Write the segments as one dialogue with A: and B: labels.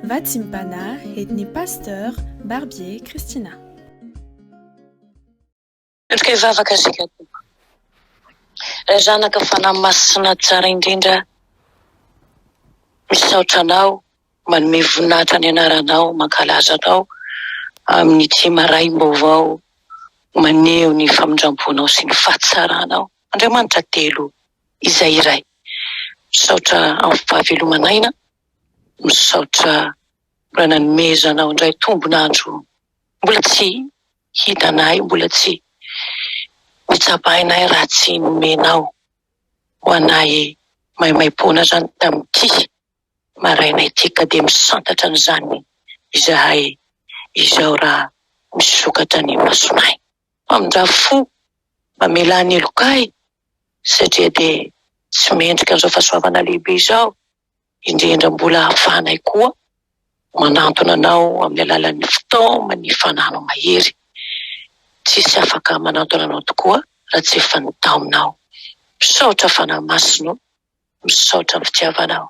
A: Vatsimbana et ny Pasteur Barbier Christina.
B: Misaotra kay vavaka isika tompoko Ray zanaka fanahy masina tsara indrindra misaotra anao manome voninahitra ny anaranao mankalaza anao amin'ity maraim-baovao maneho ny famindramponao sy ny fahatsaranao Andriamanitra telo izay iray. Misaotra amin'ny fahavelomana aina, misaotra mbola nanomezana aho indray tombon'andro mbola tsy hitanay, mbola tsy notsapainay raha tsy nomenao ho anay maimaim-poana izany tamin'ity maraina ity ka dia misantatra an'izany izahay izao raha misokatra ny masonay. Mpamindra fo, mamelà ny heloka ahy satria dia tsy mendrika an'izao fahasoavana lehibe izao, indrindra mbola ahafahanay koa manantona Anao amin'ny alalan'ny fitaoman'ny fanano mahery. Tsisy afaka manantona Anao tokoa raha tsy efa ny taominao. Misaotra Fanahy Masina o! Misaotra am fitiavanao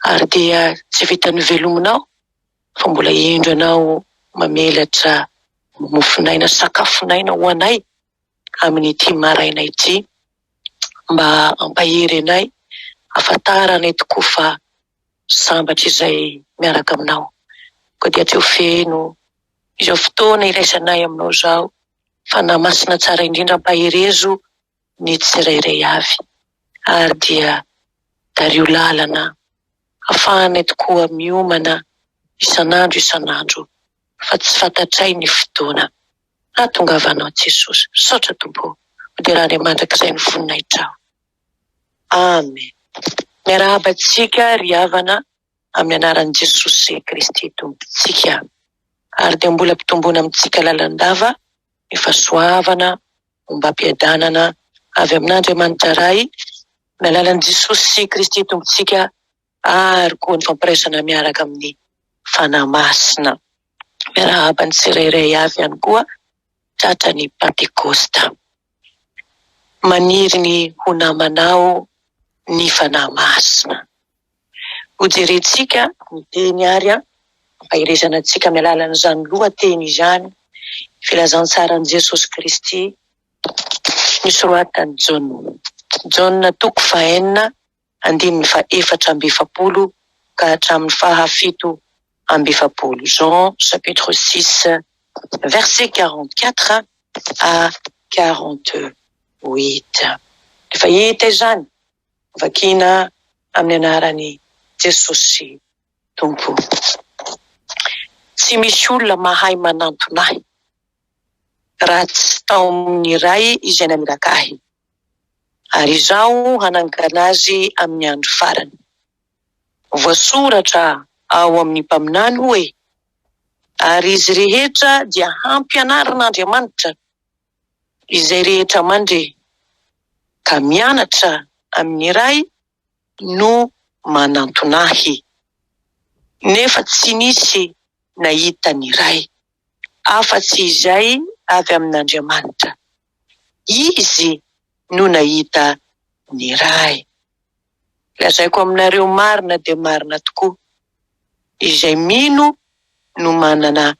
B: ary dia tsy vita novelominao fa mbola indro ianao mamelatra mofonaina sakafonaina ho anay amin'ity maraina ity mba hampahery anay hafantaranay tokoa fa sambatra izay miaraka aminao koa dia atreo feno izao fotoana iraisanay aminao izao Fanahy Masina tsara indrindra ampaherezo ny tsirairay avy, ary dia tario lalana hafahanay tokoa miomana isan'andro isan'andro fa tsy fantatray ny fotoana hahatongavanao Jesosy. Misaotra Tompo o! Hoderany mandrakizay ny voninahitRao. Amen! Miarahaba antsika ry havana amin'ny anaran'i Jesosy Kristy Tompontsika. Ary dia mbola ampitomboina amintsika lalandava ny fahasoavana ombam-piadanana avy amin'Andriamanitra Ray amin'ny alalan'i Jesosy Kristy Tompontsika ary koa ny fampiraisana miaraka amin'ny Fanahy Masina. Miarahaba ny tsirairay avy ihany koa tratran'ny Pantekosta. Maniry ny ho namanao ny Fanahy Masina. Hojerentsika ny teny ary hampaherezana antsika amin'ny alalan'izany lohateny izany ny filazantsaran'i Jesosy Kristy nosoratan'i Jaona, Jaona toko fahenina andininy fahefatra amby efapolo ka hatramin'ny fahafito amby efapolo, Jean chapitre six verset quarante quatre à quarante huit. Rehefa hita izany Vakina amin'ny anaran'i Jesosy Tompo. Tsy misy olona mahay manantona ahy raha tsy tao amin'ny Ray izay naniraka ahy, ary izaho hanangana azy amin'ny andro farany. Voasoratra ao amin'ny mpaminany hoe, Ary izy rehetra dia hampianarin'Andriamanitra. izay rehetra mandre ka mianatra amin'ny Ray no manantona Ahy. Nefa tsy nisy nahita ny Ray, afa-tsy izay avy amin'Andriamanitra. Izy no nahita ny Ray. Lazaiko aminareo marina dia marina tokoa, izay mino no manana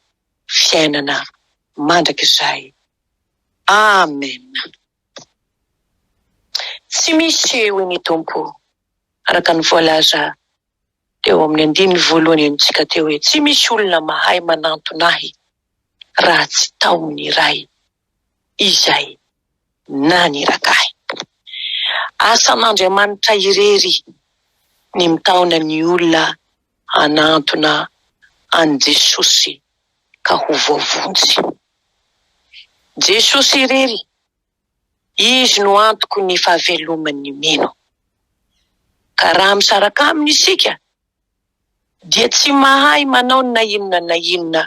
B: fiainana mandrakizay. Amen. Tsy misy hoy ny Tompo, araka ny voalaza teo amin'ny andininy voalohany amintsika teo hoe, tsy misy olona mahay manantona Ahy raha tsy tao amin'ny Ray izay. naniraka ahy. Asan'Andriamanitra irery ny mitaona ny olona hanantona an'i Jesosy ka ho voavonjy. Jesosy irery, Izy no antoky ny fahaveloman'ny mino. Ka raha misaraka Aminy isika dia tsy mahay manao na inona na inona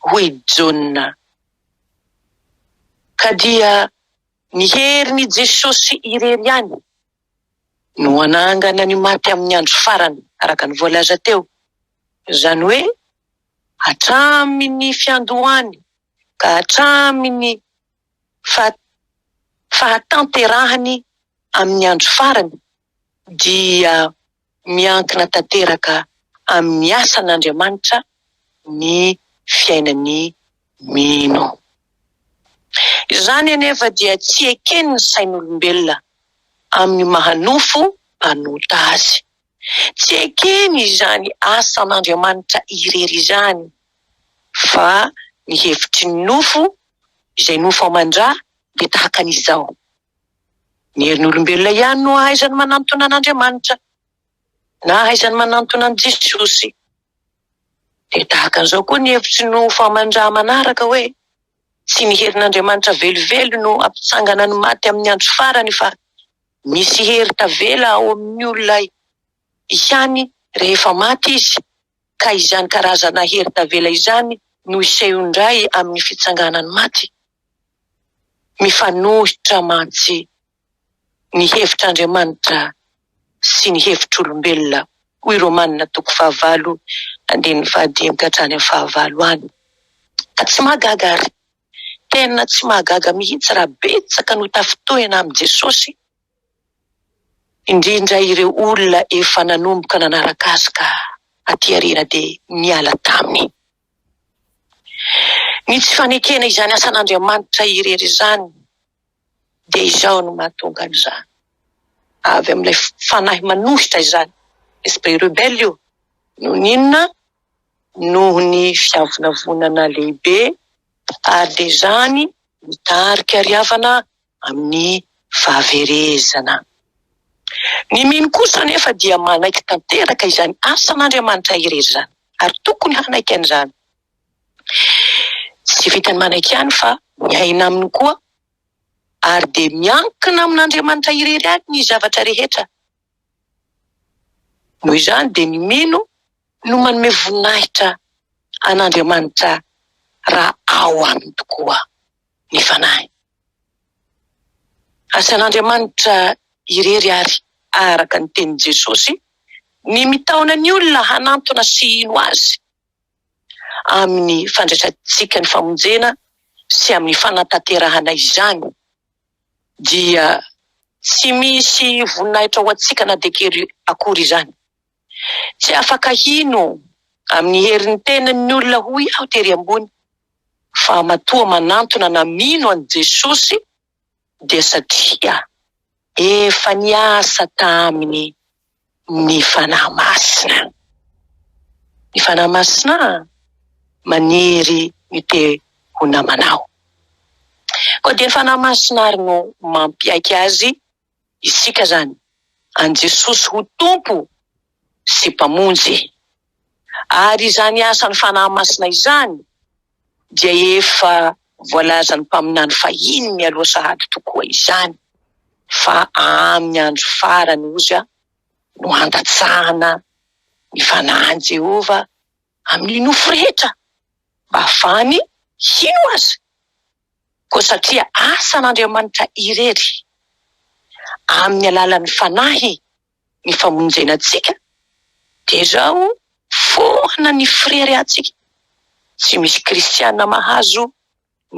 B: hoy i Jaona. Ka dia ny herin'i Jesosy irery ihany no hanangana ny maty amin'ny andro farany araka ny voalaza teo, izany hoe hatramin'ny fiandohany ka hatramin'ny fahatanterahany amin'ny andro farany. dia miankina tanteraka amin'ny asan'Andriamanitra ny fiainan'ny mino. Izany anefa dia tsy eken'ny sain'olombelona amin'ny maha nofo mpanota azy. Tsy ekeny izany asan'Andriamanitra irery izany fa ny hevitry ny nofo, izay nofo aman-dra dia tahaka an'izao. Ny herin'olombelona ihany no ahaizany manantona an'Andriamanitra, na ahaizany manantona an'i Jesosy. Dia tahaka an'izao koa ny hevitry ny Famanrà manaraka hoe, Tsy ny herin'Andriamanitra velively no hampitsangana ny maty amin'ny andro farany fa misy hery tavela ao amin'ny olona ihany rehefa maty izy, ka izany karazana hery tavela izany no hiseho indray amin'ny fitsanganan'ny maty. mifanohitra mantsy ny hevitr'Andriamanitra sy ny hevitr'olombelona, hoy Romana toko fahavalo andininy fahadimy ka hatrany amin'ny fahavalo any. Ka tsy mahagaga àry, tena tsy mahagaga mihitsy raha betsaka no tafintohina amin'i Jesosy, indrindra ireo olona efa nanomboka nanaraka azy ka aty aoriana dia niala taminy. Ny tsy fanekena izany asan'Andriamanitra irery izany dia izao no mahatonga an'izany, avy amin'ilay fanahy manohitra izany, esprit rebelle io, noho ny inona? noho ny fiavonavonana lehibe ary dia izany mitarika ry havana amin'ny fahaverezana. Ny mino kosa anefa dia manaiky tanteraka izany asan'Andriamanitra irery izany, ary tokony hanaiky an'izany. Tsy vitan'ny manaiky ihany fa miaina aminy koa, ary dia miankina amin'Andriamanitra irery ihany ny zavatra rehetra. Noho izany dia ny mino no manome voninahitra an'Andriamanitra raha ao aminy tokoa. ny fanahy. Asan'Andriamanitra irery àry, araka ny tenin'i Jesosy, ny mitaona ny olona hanantona sy hino azy amin'ny fandraisantsika ny famonjena sy amin'ny fanatanterahana izany, dia tsy misy voninahitra ho antsika na dia kely akory izany. Tsy afaka hino amin'ny herin'ny tenany ny olona hoy aho tery ambony fa matoa manantona na mino an'i Jesosy dia satria efa niasa taminy ny Fanahy Masina. Ny Fanahy Masina maniry ny te ho namanao. Koa dia ny Fanahy Masina ary no mampiaiky azy isika izany an'i Jesosy ho Tompo sy Mpamonjy. Ary izany asan'ny Fanahy Masina izany dia efa voalazan'ny mpaminany fahiny mialoha sahady tokoa izany fa amin'ny andro farany hozy no handatsahana ny Fanahin'i Jehovah amin'ny nofo rehetra mba hahafahany hino azy. Koa satria asan'Andriamanitra irery, amin'ny alalan'ny Fanahy, ny famonjena antsika, dia izao foana ny fireharehantsika. Tsy misy kristiana mahazo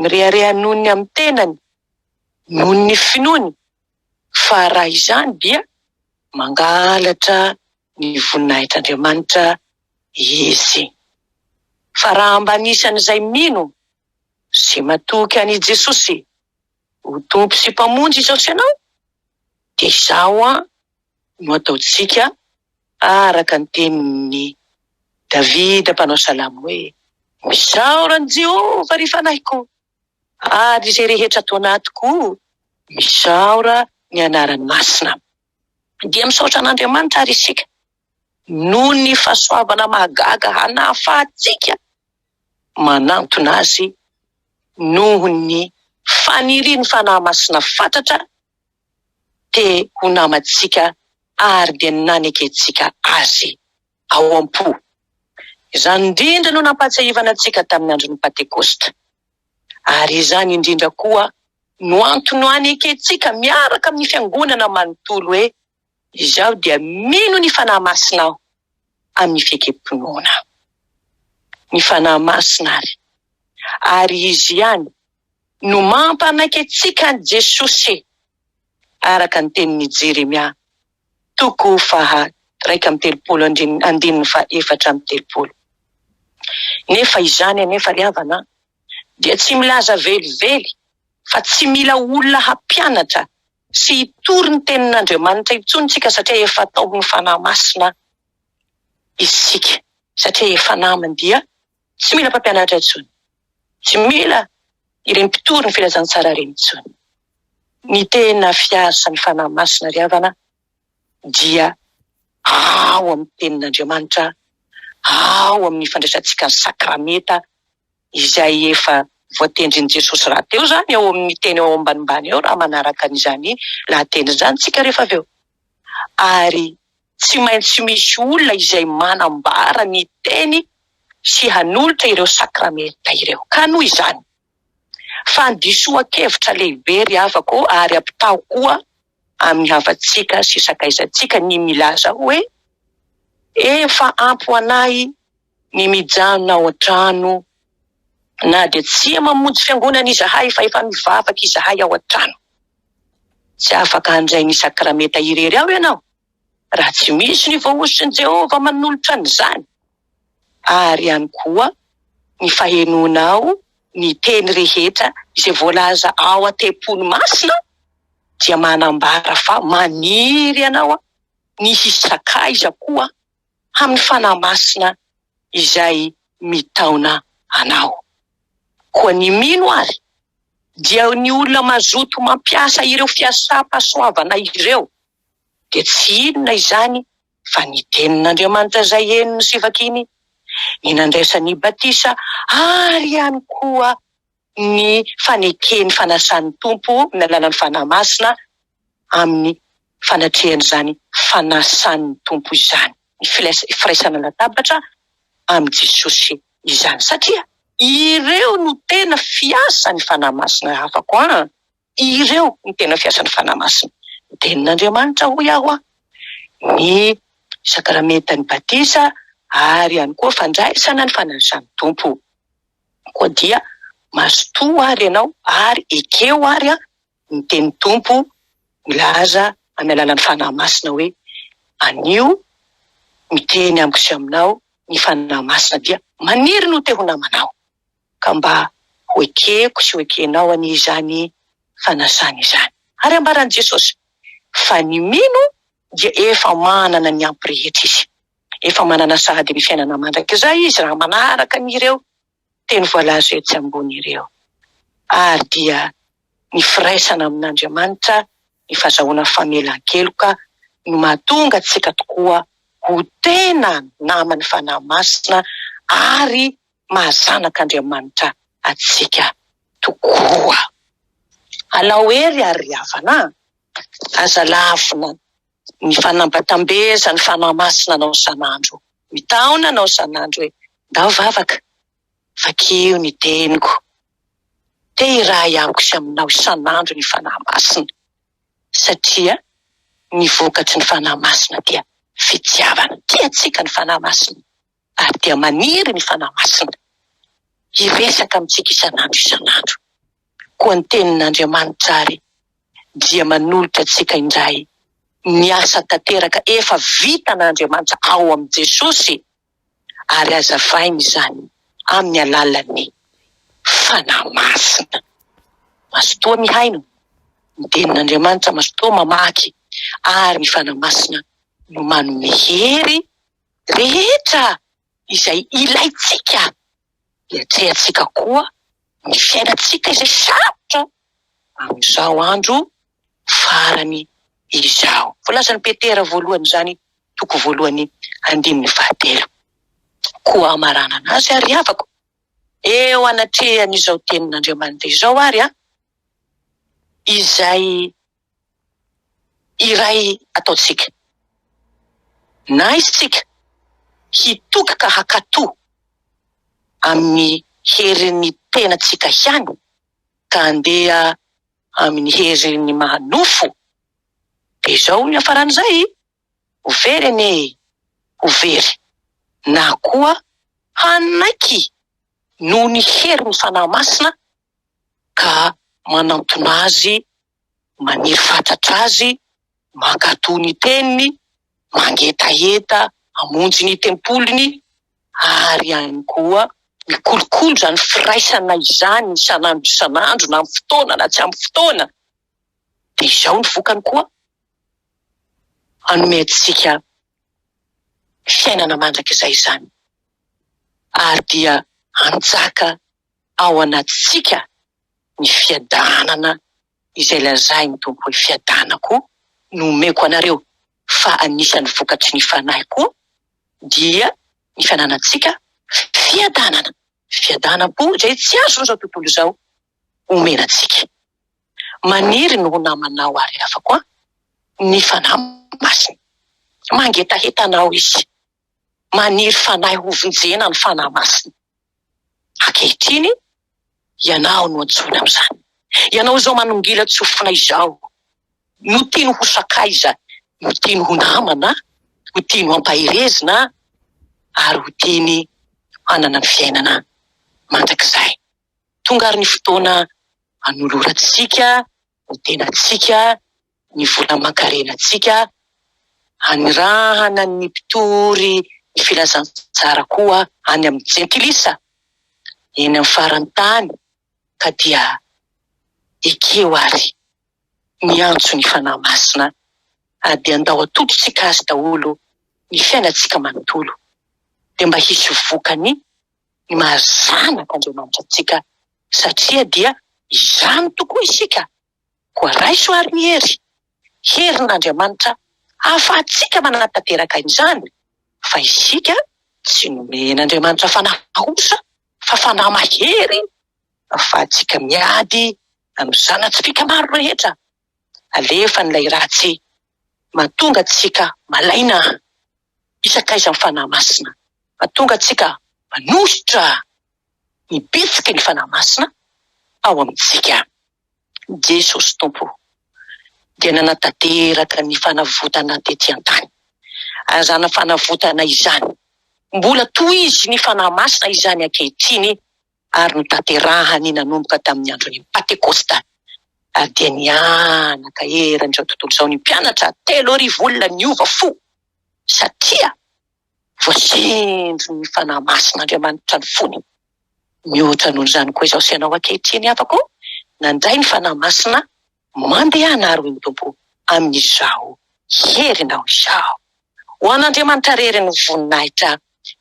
B: mirehareha noho ny amin'ny tenany, noho ny finoany, fa raha izany dia mangalatra ny voninahitr'Andriamanitra izy. Fa raha mba anisan'izay mino Izay matoky an' i Jesosy ho Tompo sy Mpamonjy izao sy ianao, dia izao an no ataontsika araka ny tenin' i Davida mpanao salamo hoe, Misaora an' i Jehovah, ry fanahiko, ary izay rehetra ato anatiko, misaora ny anarany masina. Dia misaotra an' Andriamanitra àry isika noho ny fahasoavana mahagaga hanahafahantsika manantona azy noho ny fanirian'ny Fanahy Masina fatratra te ho namantsika ary dia nanekentsika Azy ao am-po. Izany indrindra no nampahatsiahivana antsika tamin'ny andron'ny Pantekosta, ary izany indrindra koa no antony ho anekentsika miaraka amin'ny Fiangonana manontolo hoe, Izaho dia mino ny Fanahy Masina aho amin'ny fiekem-pinoana. Ny Fanahy Masina àry, ary Izy ihany, no mampanaiky antsika an'i Jesosy, araka ny tenin'i Jeremia, toko faha iraika amby telopolo andininy, andininy faha efatra amby telopolo. Nefa izany anefa, ry havana, dia tsy milaza velively fa tsy mila olona hampianatra sy hitory ny tenin'Andriamanitra intsony isika satria efa atao ny Fanahy Masina isika satria efa namany dia tsy mila mpampianatra intsony, tsy mila ireny mpitory ny filazantsara ireny intsony. Ny tena fiarsa ny Fanahy Masina ry havana dia ao amin'ny tenin'Andriamanitra, ao amin'ny fandraisantsika ny sakramenta, izay efa voatendrin'i Jesosy rahateo izany ao amin'ny teny ao ambanimbany ao raha manaraka an'izany lahateny izany isika rehefa avy eo. Ary tsy maintsy misy olona izay manambara ny teny sy hanolotra ireo sakramenta ireo. Ka noho izany, fandisoan-kevitra lehibe ry havako ary ampitaho koa amin'ny havantsika sy sakaizantsika ny milaza hoe, Efa ampy ho anay Ny mijanona ao an-trano, na dia tsia mamonjy fiangonana izahay fa efa mivavaka izahay ao an-trano. Tsy afaka handray ny sakramenta irery ao ianao raha tsy misy ny Voahosotr'i Jehovah manolotra an'izany. Ary ihany koa ny fahenoanao ny teny rehetra izay voalaza ao an-tempoly masina dia manambara fa maniry ianao ny hisakaiza koa amin'ny Fanahy Masina izay mitaona anao. Koa ny mino ary dia ny olona mazoto mampiasa ireo fiasam-pahasoavana ireo dia tsy inona izany fa ny Tenin'Andriamanitra izay henony sy vakiny, ny nandraisany batisa ary ihany koa ny faneken'ny fanasan'ny Tompo ny alalan'ny Fanahy Masina amin'ny fanatrehan'izany fanasan'ny Tompo izany, ny firaisana latabatra amin'i Jesosy izany, satria ireo no tena fiasan'ny Fanahy Masina afako an! Ireo no tena fiasan'ny Fanahy Masina. Ny Tenin'Andriamanitra, hoy aho an, ny Sakramentan'ny Batisa ary ihany koa fandraisana ny fanirisan'ny Tompo. Koa dia mazotoa àry ianao ary ekeo àry an, ny Tenin'ny Tompo milaza amin'ny alalan'ny Fanahy Masina hoe, Anio miteny amiko sy aminao ny Fanahy Masina, dia maniry ny ho te ho namanao. ka mba ho ekeko sy ho ekenao anie izany fanasana izany. Ary ambaran'i Jesosy fa ny mino dia efa manana ny ampy rehetra izy. Efa manana sahady ny fiainana mandrakizay izy raha manaraka an'ireo teny voalaza etsy ambony ireo. Ary dia ny firaisana amin'Andriamanitra, ny fazahoana famelan-keloka no mahatonga antsika tokoa ho tena naman'ny Fanahy Masina ary maha zanak' Andriamanitra antsika tokoa. Alao hery ary ry havana a! Aza lavina ny fanambatambeza ny Fanahy Masina anao isan'andro. Mitaona anao isan'andro hoe, Ndao vavaka, vakio ny teniko. Te hiray amiko sy aminao isan'andro ny Fanahy Masina, satria ny vokatry ny Fanahy Masina dia fitiavana. Tiantsika ny Fanahy Masina. ary dia maniry ny Fanahy Masina hiresaka amintsika isan'andro isan'andro. Koa ny Tenin'Andriamanitra àry dia manolotra antsika indray ny asa tanteraka efa vitan'Andriamanitra ao amin'i Jesosy, ary hazavainy izany amin'ny alalan'ny Fanahy Masina. Mazotoa mihaino ny Tenin'Andriamanitra, mazotoa mamaky, ary ny Fanahy Masina no manome hery. rehetra izay ilaintsika hiatrehantsika koa ny fiainantsika izay sarotra amin'izao andro farany izao. Voalazan'i Petera voalohany izany, toko voalohany andininy fahatelo. Koa hamaranana azy ary havako, eo anatrehan'izao tenin'Andriamanitra izao ary, izay iray ataontsika. Na izy tsika hitoky ka hakato amin'ny herin'ny tenantsika ihany ka andeha amin'ny herin'ny maha nofo, dia izao ny hafaran'izay, ho very anie e, ho very, na koa hanaiky noho ny herin'ny Fanahy Masina ka manantona azy Maniry fatratra azy, mankatò ny teniny, mangetaheta hamonjy ny tempoliny, ary ihany koa mikolokolo izany firaisana izany isan'andro isan'andro na amin'ny fotoana na tsy amin'ny fotoana, dia izao ny vokany koa, hanome antsika fiainana mandrakizay izany, ary dia hanjaka ao anatintsika ny fiadanana izay lazain'ny Tompo hoe fiadanako no omeko anareo, fa anisan'ny vokatry ny Fanahy koa dia ny fananantsika fiadanana, fiadanam-po izay tsy azon'izao tontolo izao omena antsika. Maniry ny ho namanao ary havako an! ny Fanahy Masina. Mangetaheta anao Izy maniry fanahy hovonjena ny Fanahy Masina. Ankehitriny, ianao no antsoina amin'izany. Ianao izao manongilan-tsofina izao no tiany ho sakaiza, no tiany ho namana, no tiany ho ampaherezina ary ho tiany hanana ny fiainana mandrakizay. Tonga ary ny fotoana anolorantsika ny tenantsika, ny vola aman-karenantsika, anirahana ny mpitory ny filazantsara koa any amin'ny jentilisa eny amin'ny faran'ny tany ka dia ekeo ary miantso ny Fanahy Masina ary dia andao atodintsika azy daholo ny fiainantsika manontolo dia mba hisy vokany ny maha zanak'Andriamanitra antsika Satria dia izany tokoa isika, koa raiso ary ny hery, herin'Andriamanitra ahafahantsika manatanteraka izany, fa isika tsy nomen'Andriamanitra fanahy osa fa fanahy mahery ahafahantsika miady amin'ny zana-tsipìka maro rehetra alefan'ilay ratsy mahatonga antsika malaina isakaiza amin'ny Fanahy Masina, mahatonga antsika manosotra ny bitsiky ny Fanahy Masina ao amintsika. Jesosy Tompo dia nanatanteraka ny fanavotana tety an-tany. Azana fanavotana izany. Mbola tohizy ny Fanahy Masina izany ankehitriny ary notanterahany nanomboka tamin'ny andron'ny Pantekosta ary dia nihanaka eran'izao tontolo izao ny mpianatra telo arivo olona niova fo satria Voasendry ny Fanahy Masin'Andriamanitra ny fony. Mihoatra noho izany koa izao sianao ankehitriny havako ô, nandray ny Fanahy Masina, mandehana ary hoy ny Tompo, amin'izao herinao izao. Ho an'Andriamanitra irery ny voninahitra,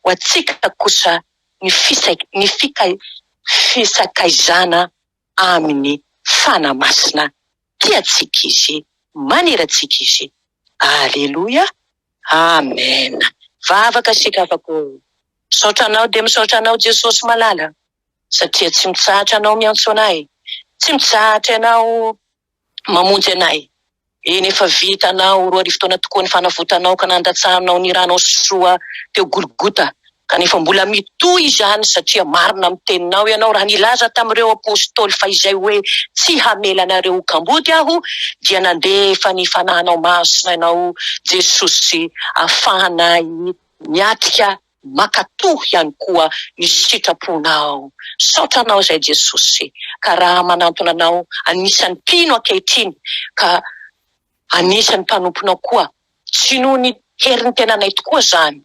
B: ho antsika kosa ny fisakaizana. amin'ny Fanahy Masina tiantsika Izy, manera antsika Izy. Aleloia! Amen! Vavaka isika afaka hoe, Misaotra Anao dia misaotra Anao Jesosy malala, satria tsy mitsahatra Ianao miantsoana ahy, tsy mitsahatra Ianao mamonjy anay. Eny, efa vitanao roa arivo taona tokoa ny fanavotanao ka nandatsahanao ny ranao sy soa teo Golgota, kanefa mbola mitohy izany, satria marina amin'ny teninao ianao raha nilaza tamin'ireo apostoly fa izay hoe tsy hamela anareo ho kamboty aho dia nandefa ny Fanahinao Masina ianao Jesosy afahanay miatrika Mankatò ihany koa ny sitraponao. Misaotra Anao izay Jesosy ka raha manantona Anao anisan'ny mpino ankehitriny ka anisan'ny mpanomponao koa tsy noho ny herin'ny tenanay tokoa izany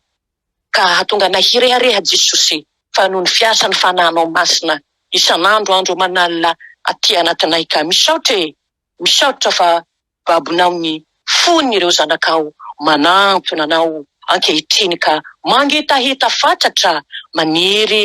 B: ka hahatonga anay hirehareha Jesosy fa noho ny fiasan'ny Fanahinao Masina isan'andro andro aman'alina aty anatinay ka. Misaotra e! Misaotra fa babonao ny fon'ireo zanakao manantona anao ankehitriny ka mangetaheta fatratra maniry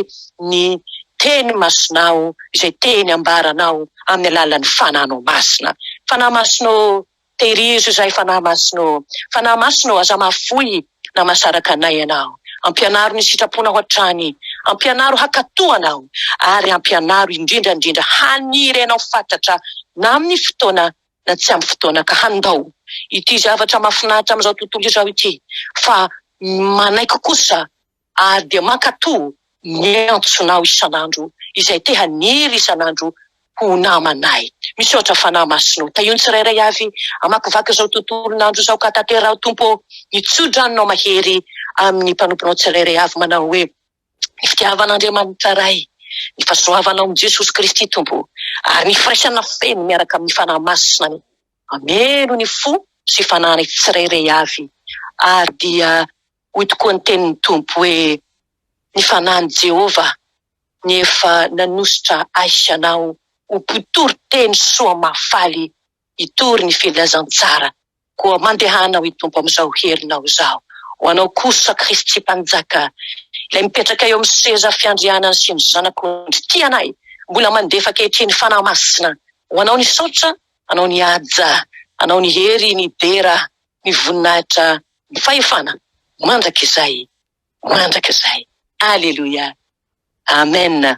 B: ny Teny Masinao izay teny ambaranao amin'ny alalan'ny Fananao Masina. Fanahy Masina ô, tehirizo izahay Fanahy Masina ô. Fanahy Masina ô, aza mahafoy Namasaraka anay Ianao. Ampianaro ny sitraponao hatrany. Ampianaro hankatò Anao. Ary ampianaro indrindra indrindra haniry Anao fatratra na amin'ny fotoana na tsy amin'ny fotoana ka handao ity zavatra mahafinaritra amin'izao tontolo izao ity fa manaiky kosa ary dia mankatò ny antsonao isan'andro izay te haniry isan'andro ho namanay. Misaotra Fanahy Masina ô. Tahio ny tsirairay avy hamakivaky izao tontolon'andro izao ka tanteraho Tompo ô. Ny tso-dranonao mahery amin'ny mpanomponao tsirairay avy manao hoe, Ny fitiavan'Andriamanitra Ray, ny fahasoavanao amin'i Jesosy Kristy Tompo ô, ary ny firaisana feno miaraka amin'ny Fanahy Masina ny hameno ny fo sy fananay tsirairay avy ary dia Hoy tokoa ny tenin'ny Tompo hoe, Ny Fanahin'i Jehovah ny efa nanosotra ahy sy anao ho mpitory teny soa mahafaly hitory ny filazantsara. Koa mandehana, hoy Tompo, amin'izao herinao izao. Ho anao kosa, Kristy Mpanjaka, ilay mipetraka eo amin'ny seza fiandrianany sy ny Zanak'ondry tia anay, mbola mandefa ankehitriny Fanahy Masina ho anao ny saotra, anao ny haja, anao ny hery, ny dera, ny voninahitra Ny fahefana mandrakizay mandrakizay. Aleloia! Amen!